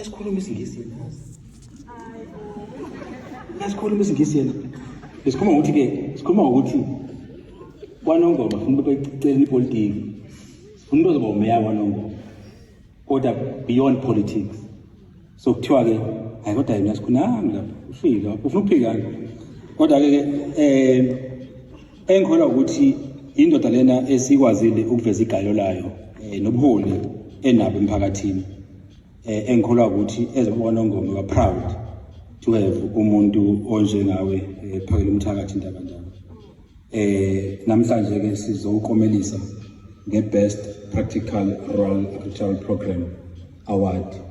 Esikhuluma isingisi yena. Esikhuluma isingisi yena. Besikhuluma ukuthi ke, sikhuluma ukuthi kwanongoma funa becela ipolitiki. Funa uzoba umeya kwanongoma. Kodwa beyond politics. So kuthiwa ke hayi kodwa yena sikhunami lapha. Ufile lapha. Ufuna ukuphikana. Kodwa ke eh engikholwa ukuthi indoda lena esikwazile ukuveza igalo layo eh, nobuholi enabo emphakathini. eh, engikholwa ukuthi ezobona ongome wa proud to have umuntu onjengawe eh, phakela umthakathi indaba njalo eh namhlanje ke sizokomelisa nge best practical rural agricultural program award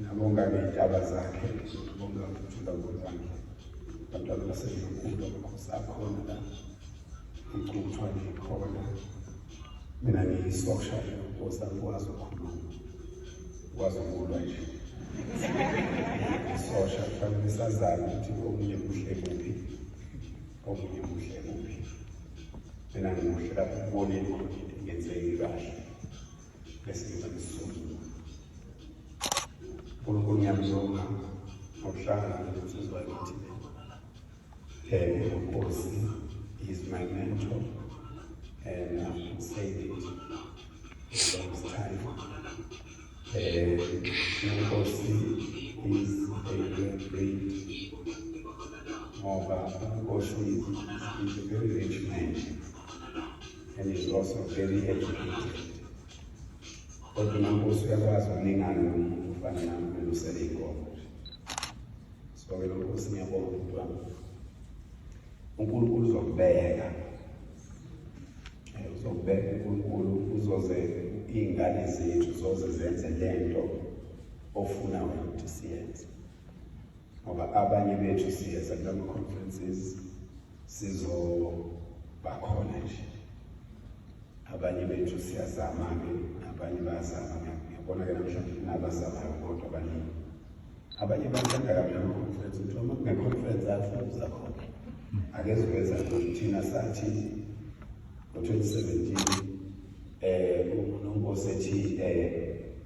Ngabonga ngey'ndaba zakhe ngizobonga ukuthi ngabona kwakhe abantwana basezokhulu amakhosi akhona la ngicutshwa ngikhona mina ngiyisosha nkosi angikwazi ukukhuluma ngikwazi ukulwa nje isosha kufanele sazane ukuthi omunye kuhle kuphi omunye kuhle kuphi mina ngimuhle lapho kuboneni khona into ingenzeki kahle ngesidingo esisungile unkulunkulu ngiyamzonga ngokuhlangana nensizwa yakithi um nkosi is my mentor and i'm saying it long time um inkosi is a great ngoba inkosi is a very rich man and is also very educated kodwa umankosi uyakwazi ukuningana nomuntu ufana nami ulusele inkomo so-ke lo nkosi ngiyabonga umuntu wami unkulunkulu uzokubeka uzokubeka unkulunkulu uzoze iy'ngane zethu zoze zenze le nto ofuna wena ukuthi siyenze ngoba abanye bethu siyeza kulama conferences sizo bakhona nje abanye bethu siyazama ke abanye bayazama ngiyabona ke namhlanje kunabazamayo kodwa abaningi abanye bathanda kabi lama conference ukuthi uma kune conference athi uza khona akeziveza ukuthi thina sathi ngo-2017 um eh, unonkosi ethi um eh,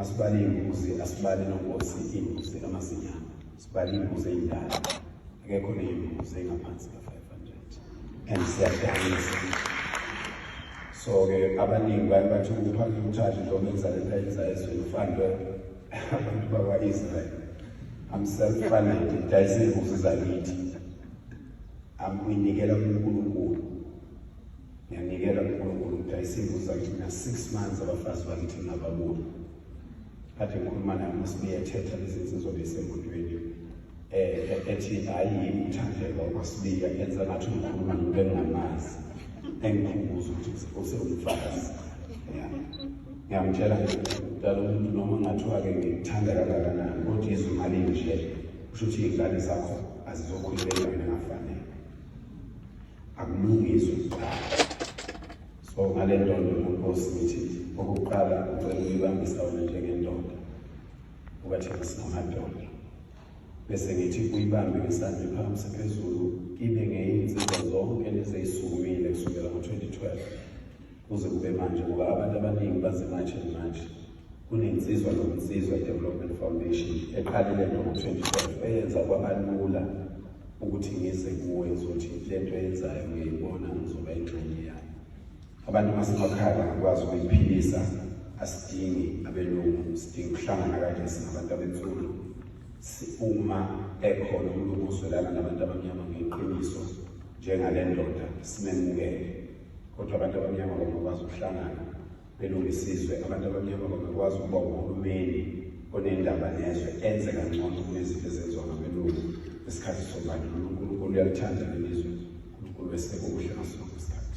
asibali imbuzi asibali nonkosi imbuzi amazinyana sibali imbuzi eyindala akekho neyimbuzi engaphansi ka-500 and siyadanisa so-ke abaningi baye bathi ukuphambi umthathu noma enzalela yenza ezweni ufanelwe abantu bakwa-israyeli I'm self-funded. Dicey moves are neat. Angiyinikela kuNkulunkulu. Ngiyanikela kuNkulunkulu ngidayisa imbuzi zakithi mina six months abafazi bakithi ngingababoni. Kade ngikhuluma naye uma sibeyethetha lezi nsizwa besemotweni. Eh ethi hayi yimi uthandeka ukwasibiya enza ngathi ngikhuluma nomuntu engingamazi. Engikhumbuza ukuthi usewumfazi. Yeah. Ngiyamtshela nje dala umuntu noma ngathiwa-ke ngikuthanda kangakanani kodwa izwi malinje kusho ukuthi iy'ngane zakho azizokhulekela mina ngafanele akulungiswe so ngale ndondo nonkosi ngithi okokuqala ucela ukuyibambisa wena njengendoda ukathi ngisingamadoda bese ngithi uyibambe ngesandla phansi phezulu ibe ngeyinsizwa zonke lezeyisukumile kusukela ngo-2012 kuze kube manje ngoba abantu abaningi bazimanje manje kunensizwa nokunsizwa i-development foundation eqalile ngo-2012 eyenza kwabalula ukuthi ngize kuwe uzothi le nto eyenzayo ngiyayibona ngizoba ingxenye yayo abantu basemakhaya bangakwazi ukuyiphilisa asidingi abelungu sidinga ukuhlangana kanje singabantu abensuku uma ekhona umuntu ozwelana nabantu abamnyama ngeqiniso njengale ndoda simemukele kodwa abantu abamnyama bangakwazi ukuhlangana belunga isizwe abantu abamnyama bangakwazi ukuba uhulumeni onendaba nezwe enze kangcono kunezinto ezenziwa ngabelungu ngesikhathi sobandlululo unkulunkulu uyaluthanda lelizwe unkulunkulu weseke okuhle ngasonke isikhathi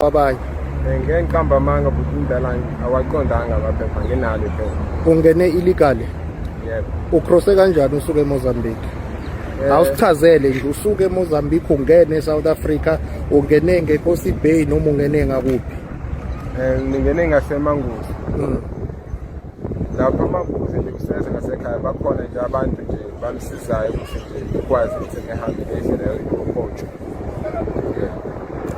abanye ngeke ngiqamba amanga futhi impela awaqondanga amaphepha nginalo iphepha ungene illegally yebo ucrosse kanjani usuke eMozambique eh. awusichazele nje usuke eMozambique ungene eSouth Africa ungene ngeKosi Bay noma ungene ngakuphi eh ngingene ngaseManguzi mm. lapho amabuzi nje kuseze ngasekhaya bakhona nje abantu nje bamsizayo ukuthi nje ikwazi ukuthi ngihambe ngendlela yokuphotshwa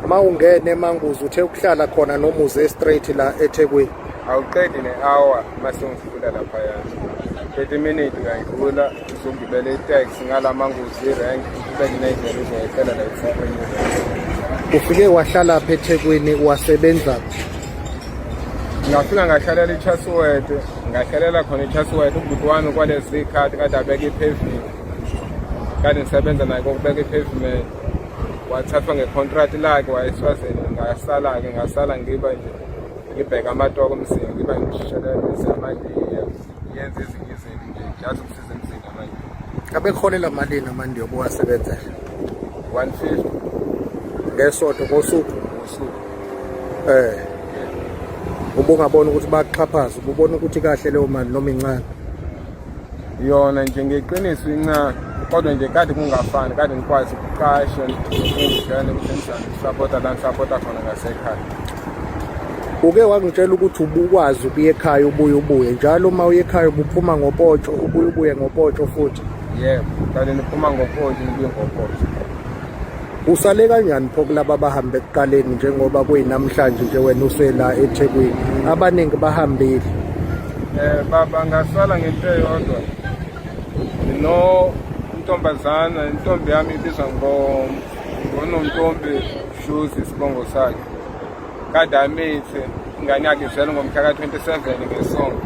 mawungene emanguzi uthe ukuhlala khona nomuzi estraight la ethekwini awuqedi ne-hour mase ngifula laphaya 30 minute ngayidlula uzongibele itax ngala manguzi irank ubeke nayidlela uzoyehlela la ethekwini ufike wahlala pha ethekwini wasebenza ngafika ngahlalela ichasuwede ngahlalela khona ichasuwede ubhuti wami kwalezi khathi kade abeke iphevini kade ngisebenza naye kokubeka i-pavement wathathwa ngecontract lakhe wayeswazini ngasala-ke ngasala ngiba nje ngibheke amatoko mzini ngiba ngishelelise manje yenza ezinye izinto nje ngiyazi ukusiza emzini manje abekholela malini amandi yokuwasebenza 150 ngesonto ngosuku ngosuku eh ubungabona ukuthi baxhaphaza ububona ukuthi kahle leyo mali noma incane yona nje ngeqiniso incane kodwa nje kade kungafani kade ngikwazi ukuqasha ukudla nokusenzani sapota la sapota khona ngasekhaya uke wangitshela ukuthi ubukwazi ukuya ekhaya ubuye ubuye njalo uma uye ekhaya ubuphuma ngopotsho ubuye ubuye ngopotsho futhi yebo kade niphuma ngopotsho nibuye ngopotsho Usale kanjani pho kulaba bahambe ekuqaleni njengoba kuyinamhlanje nje wena usela eThekwini abaningi bahambile eh baba ngasala ngento eyodwa no intombazana intombi yami ibizwa ngonontombi shoes isibongo sakhe kade amithe ingane yakhe izele ngomhla ka-27 ngesonto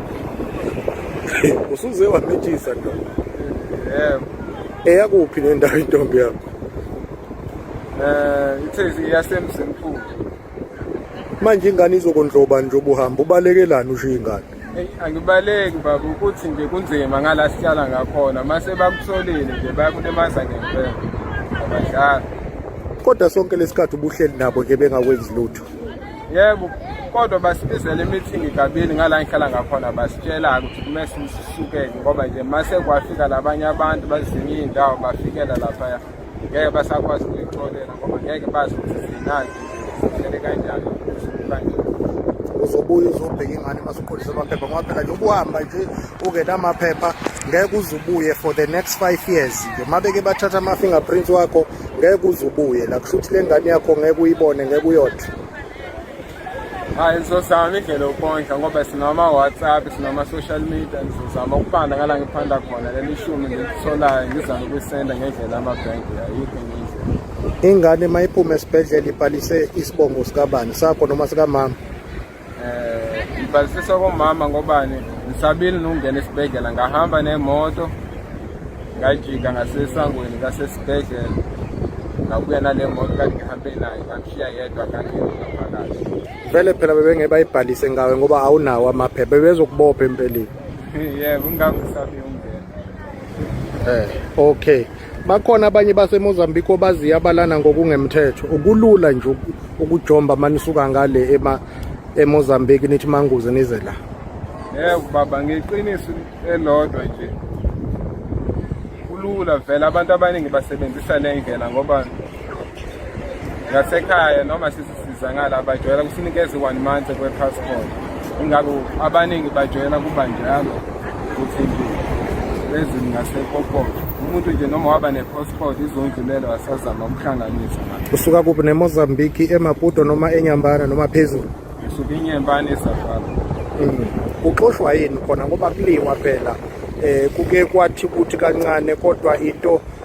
usuze wamitshisa nto yebo eyakuphi nendawo intombi yakho eh ithezi iyasemzimkhulu manje ingane izokondloba nje ubuhamba ubalekelani usho ingane Eyi, angibaleki baba ukuthi nje kunzima ngala sihlala ngakhona mase bakusolile nje bayakulimaza ngempela abadlali kodwa sonke lesikhathi ubuhleli nabo nje bengakwenzi lutho yebo kodwa basibizele imithingi kabili ngala ngihlala ngakhona basitshela-ke ukuthi kume sisuke-ke ngoba nje mase kwafika labanye abantu bazinye iy'ndawo bafikela laphaya ngeke basakwazi ukuyixolela ngoba ngeke bazi ukuthi zinani zihlele kanjani kanje uzobuya uzobheka ingane uma suqondisa amaphepha ngoba phela nje ubuhamba nje ungenamaphepha ngeke uzubuye for the next five years nje uma beke bathatha ama-fingerprints wakho ngeke uze ubuye la kusho ukuthi le ngane yakho ngeke uyibone ngeke uyodla hayi sizozama indlela yokondla ngoba sinama-whatsapp sinama-social media ngizozama ukubanda ngala ngiphanda khona leli ishumi ngilitholayo ngizama ukuyisenda ngendlela amabhenki ayikho ingane uma iphume esibhedlela ibhalise isibongo sikabani sakho noma sikamama eh ngibhalisisa komama ngobani ngisabile nokungena esibhedlela ngahamba nemoto ngajika ngasesangweni kasesibhedlela ngabuya nale moto kanti ngihambe nayo ngamshiya yedwa kanti ngaphakathi vele phela bebenge bayibhalise ngawe ngoba awunawo amaphepha bebezokubopha empeleni yebo ngangisa eh okay bakhona abanye basemozambique obaziyo abalana ngokungemthetho ukulula nje ukujomba uma nisuka ngale emozambique nithi manguze nize la yebo baba ngeqiniso elodwa nje kulula vele abantu abaningi basebenzisa le ndlela ngoba ngasekhaya noma sisizangala abajwayela kusinikeza i-one month kwe-passport ingakho abaningi bajwayela kuba njalo ukuthi nje bezini ngasekokoke umuntu nje noma waba ne-passport izondlulelo wasazama ukuhlanganisa usuka kuphi nemozambiki emaputo noma enyambana noma phezulu ngisuke inyembane esafala mm. kuxoshwa yini khona ngoba kuliwa phela um kuke kwathi kuthi kancane kodwa into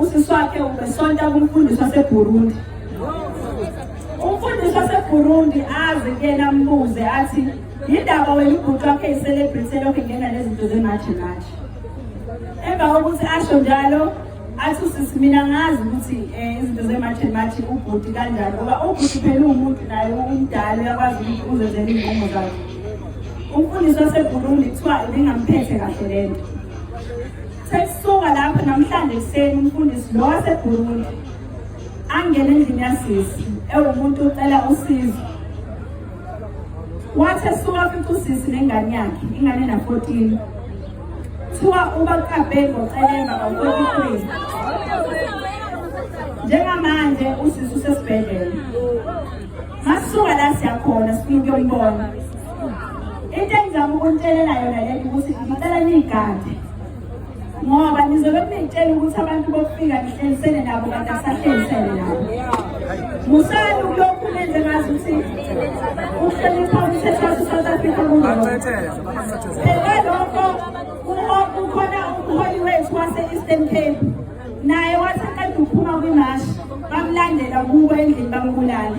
Usisi wakhe ubesonta kumfundisi waseBurundi. Umfundisi waseBurundi azi kuyena ambuze athi yindaba wena ubhuti wakhe i-celebrity elokhu ingena nezinto zemathe mathe. Emva kokuthi asho njalo athi usisi mina ngazi ukuthi um izinto zemathe mathe ubhuti kanjani ngoba ubhuti phela uwumuntu naye umdala uyakwazi ukuthi uzenzela iy'nqumo zakhe. Umfundisi waseBurundi kuthiwa ibingamphethe kahle le nto. Sekusuka lapho namhlanje ekuseni umfundisi lo waseBurundi angena endlini yasisi ewumuntu ucela usizo. Wathi esuka futhi usisi nengane yakhe ingane na 14. Thiwa ubaqabhe ngocelemba ngo-43. Njengamanje usisi usesibhedlela. Masuka la siyakhona sifuna ukuyobona. into engizama ukunitshelela yona lento ukuthi ngicela niyigade ngoba nizobe kunitshela ukuthi abantu bokufika nihlelisele nabo kanti akusahlelisele nabo musani ukulokhu nenze ngazi ukuthi ukuhlonipha umthetho wase-south africa kungoelokho kukhona umholi wethu wase-eastern cape naye wathi aqeda ukuphuma kwimashi bamlandela kubo endlini bambulala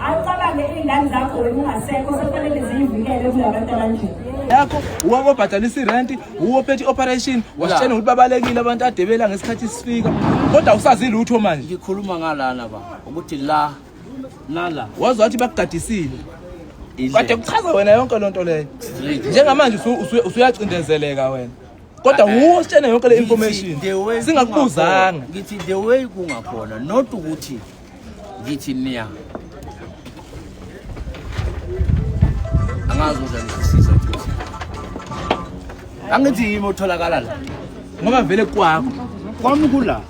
Awucabange iy'ngane zakho wena ungasekho sekufanele ziyivikele kulabantu abanje. yakho uwake obhadalisa irenti uwe ophethe i-operation wasitshena ukuthi babalekile abantu adebela ngesikhathi sifika kodwa awusazi lutho manje ngikhuluma ngalana ba ukuthi la nala wazi wathi bakugadisile kade kuchaza wena yonke loo nto leyo njengamanje usu- usu- usuyacindezeleka wena kodwa wuwe ositshena yonke le information Ngithi the way singakubuzanga kungakhona. ngithi the way kungakhona not ukuthi Ngithi niya. Angazi ukuthi ngisiza ukuthi. Angithi yimi otholakala la. Ngoba vele kwakho. Kwami kula.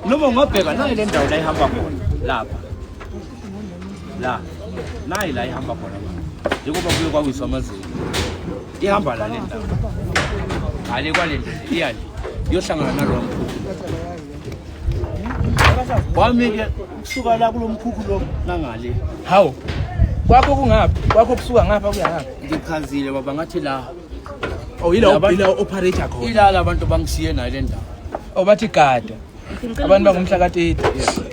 Noma ungabheka nayo le ndawo la ihamba khona lapha. La. Nayi la ihamba khona. Njengoba kuye kwawiswa amazinyo. Ihamba la le ndawo. Hale kwale ndlela iyani. Yohlangana nalowo mkhulu. wami-ke kusuka la kulo mkhukhu lo nangale hawu kwakho kungaphi kwakho kusuka ngapha kuya ngapha ngichazile baba ngathi la oh yila yila operate khona ila labantu bangishiye nayo le ndawo oh bathi gada abantu bangumhla katete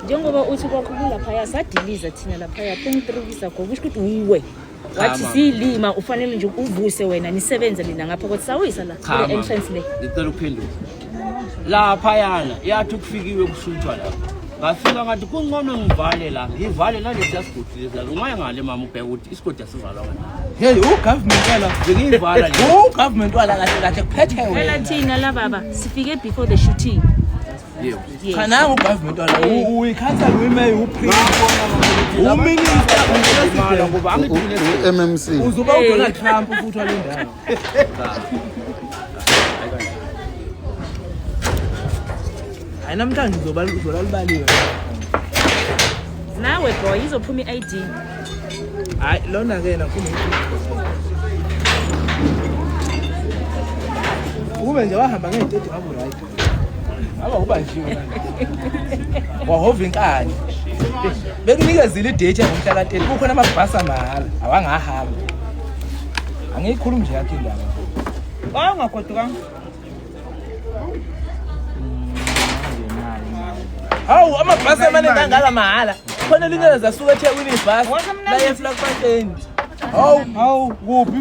njengoba uthi kwakho kulaphaya sadiliza thina laphaya 23 weeks ago kusho ukuthi uwe wathi Cha, mama. ziyilima ufanele nje uvuse wena nisebenze nina ngapha kodwa sawuyisa la Cha, kule mama. entrance le ngicela ukuphendula laphayana yathi kufikiwe kusuthwa lapho ngafika ngathi kuncono ngivale la ngivale nalesiya sigodi lesi la ungaya ngale mama ubheke ukuthi isigodi asivalwa ngani Hey, ugovernment wala. bengiyivala le Ugovernment wala kahle kahle kuphethe phela wena. thina la baba sifike before the shooting yebo cha nangu ugovernment wala uyikhansela uyimeya uprime uminister ummc uzoba udonald trump futhi wale ndawo hayi namhlanje uzoba uzola libaliwe nawe boy izophuma i-id hayi lona ke nakhulu kube nje wahamba ngey'tedi ngabu right Aba ubanjiwe wahova inkani bekunikezile idate ngomhla kateni kukhona amabhasi amahhala awangahamba angiyikhulumi nje yakhe indaba wayengagodukanga hawu amabhasi amaningi angaka mahhala khona elinye lezasuka ethekwini ibhasi layefla kubateni hawu hawu kuphi